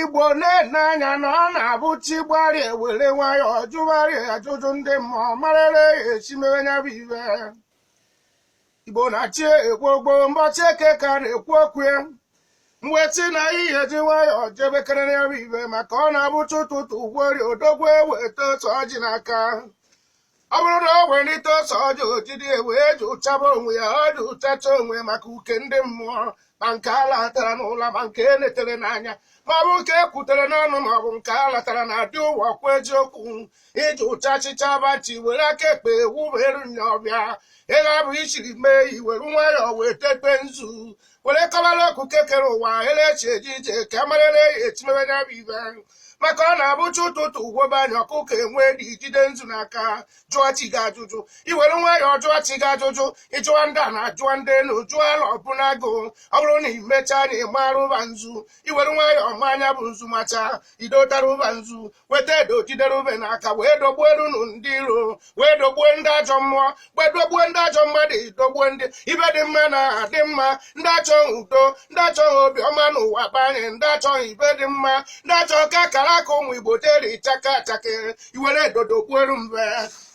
igbo na-ene anya na ọ na-abụ chi gbarịa ewere nwayọọ jụgharịa ajụjụ ndị mmụọ marara ya e si mewe nya bụ ive igbo na-achị ekwu ọ bụ mbọchị eke ka a na-ekwu okwu ya mgbe chi na ihe ji nwayọọ jebekere nya bụ ive maka ọ na-abụ chi ụtụtụ vori odogwu eweta ose ọjị n'aka ọ bụrụ na o welite ose ọjị o jidi wee jụchaba onwe ya ọ jụchacha onwe maka uke ndị mmụọ ma nke a latara n'ụla ma nke e letere n'anya ma ọ bụ nke e kwutere n'ọnụ ma ọ bụ nke a latara na adị ụwa kwa eziokwu ị jụchachịcha bachi were aka ekpe wubere nya ọbịa ego abụ ichiri mee i were nwayọọ wee tete nzu were kọbara okike kere ụwa elechi eji ije ka a marịrị e si mebe nya bụ ive maka ọ na-abụ chi ụtụtụ vobe anya ọkụkọ enwe dị jide nzu n'aka jụọ chi gị ajụjụ i were nwayọọ jụọ chi gị ajụjụ ị jụọ ndị ana jụọ ndị elu jụọ ala obu na agụ ọ bụrụ na i mechaa na ị mara ụba nzu i were nwayọọ maa nya bụ nzu macha i dotara ụba nzu weta edo jidere ube n'aka wee dogbuo erunu ndị iro wee dogbue ndị ajọ mmụọ wee dogbue ndị ajọ mmadụ dogbue ndị ive dị mma na adị mma ndị achọghị udo ndị achọghị obiọma n'ụwa banye ndị achọghị ive dị mma ndị achọghị ka akara aka ụmụ igbo deri chaka chakere i were edo dogbuoru mbe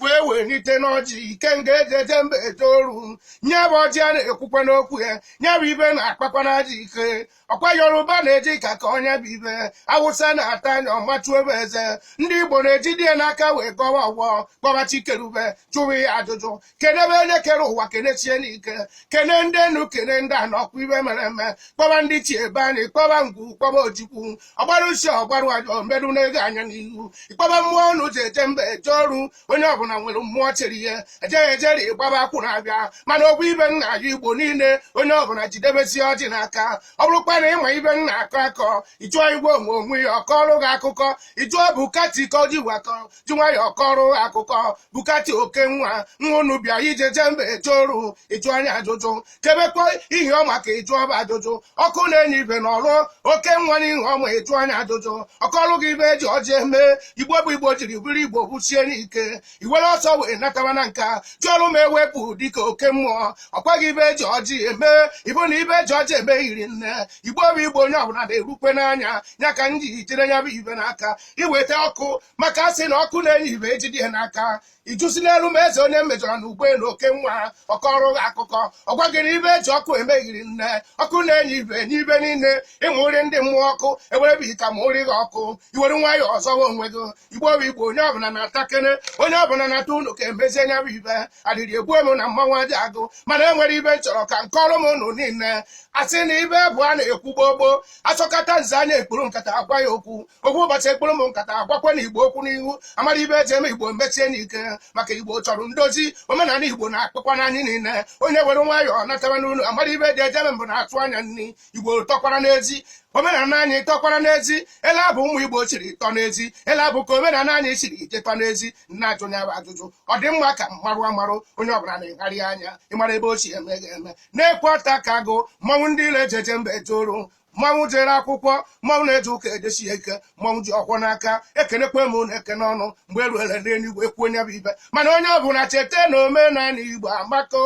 wee welite ọjị ikenga eji eje mba eje oru nya bụ ọjị a na-ekwukwa okwu ya nya bụ ive na-akpakwanụ ajọ ike ọkwa yoruba na-eji ka akọ nya bụ ive awụsa na-ata nya ọ machue be eze ndị igbo na-ejidie n'aka wee gọwa ọvọ kpọba chi keru ive jụwa ya ajụjụ kenebe onye kere ụwa kenesie ya ike kene ndị enu kene ndị ana ọkwa ive mere eme kpọba ndị chi ebe anyị kpọba ngwu kpọba ojukwu ọgbara usi ọgbarụ ajọ mbedu na-ego anya n'ihu ị kpọba mmụọ unu ji eje mba eje oru onye ọbụla nwere mmụọ chere ihe ejeghị ejeri ịgbaba akwụ na-abịa mana obu be nna ya igbo niile onye ọbụla jidebesi ọjị n'aka ọ bụrụkwa na ị ma ive a na-akọ akọ ị jụọ igwe onwe onwe ya ọ kọọrụ gị akụkọ ị jụọ bukati ka o ji wakọ ji nwayọọ kọrọ akụkọ bukati oke nwa nwa unu bịa ije jee mba eje oru ị jụọ nya ajụjụ kebekwa ihioma ka ị jụọ ba ajụjụ ọkụ na-enye ive na ọrụ oke nwa n'ihioma ị jụọ nya ajụjụ ọ kọlụ gị ive eji ọjị eme igbo bụ igbo jiri bụrụ igbo busie ike i were ọsọ wee nataba na nka jụọrụ ma ewepụ dịka oke mmụọ ọ kọọ gị ive eji ọjị eme ị vụ na ive eji ọjị eme hiri nne igbo bụ igbo onye ọbụla na-erukwe n'anya ya ka m ji jide nya bụ ive n'aka iweta ọkụ maka asị na ọkụ na-enye ive ejide ya n'aka ijusi n'elu ma eze onye mejọrọ na ụgbọelu oke nwa ọ kọrụ gị akụkọ ọ gwa gị ive eji ọkụ eme eri nne ọkụ na-enye ive enye ive niile ịmụ nri ndị mmụọ ọkụ ewerebe ita ma ụrị gị ọkụ iwere nwayọ ọzọwa onwe gị igbo bụ igbo onye ọbụla natakene onye ọbụla nata ụnọ ka emezie nya bụ ive adịrị egbu emu na mmanwụ aja agụ mana enwere ive m chọrọ ka m kọrụ unu niile asị na ive bụ a na-ekwu gboo gboo asọkata nze anya ekpuru nkata agwa ya okwu ọ bụ ụbọchị ekpuru m nkata gwakwanụ igbo okwu n'ihu amara ive eji eme igbo mechie n'ike maka igbo chọrọ ndozi omenala igbo na-akpọkwanụ anyị niile onye were nwayọọ nataba n'ụlọ amara ive dị ejebe mbụ na-atụ anya nri igbo tọkwara n'ezi omenala anyị tọkwara n'ezi ele abụ ụmụ igbo chiri tọ n'ezi ele abụ ka omenala anyị chiri ije tọ n'ezi m na-ajụ nya bụ ajụjụ ọ dị mma ka m marụ amarụ onye ọbụla na-egharị anya ịmara ebe ochie eme ga-eme na-ekwe ọta ka agụ mmanwụ ndị ile ejeje mba eje oru mmanwụ jere akwụkwọ mmanwụ na-eje ụka ejesi ike mmanwụ ji ọfọ n'aka ekenekwa m unu ekene ọnụ mgbe eruere n'eluigwe ekwuo nya bụ ive mana onye ọ bụla cheta na omenala igbo amaka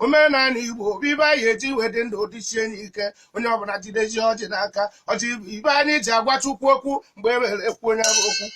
omenala igbo bụ ive anyị eji wee dị ndụ ọ dịsie anyị ike onye ọ bụla jidezi ọjị n'aka ọjị bụ ive anyị ji agwa chukwu okwu mgbe eruere ekwuo nya bụ okwu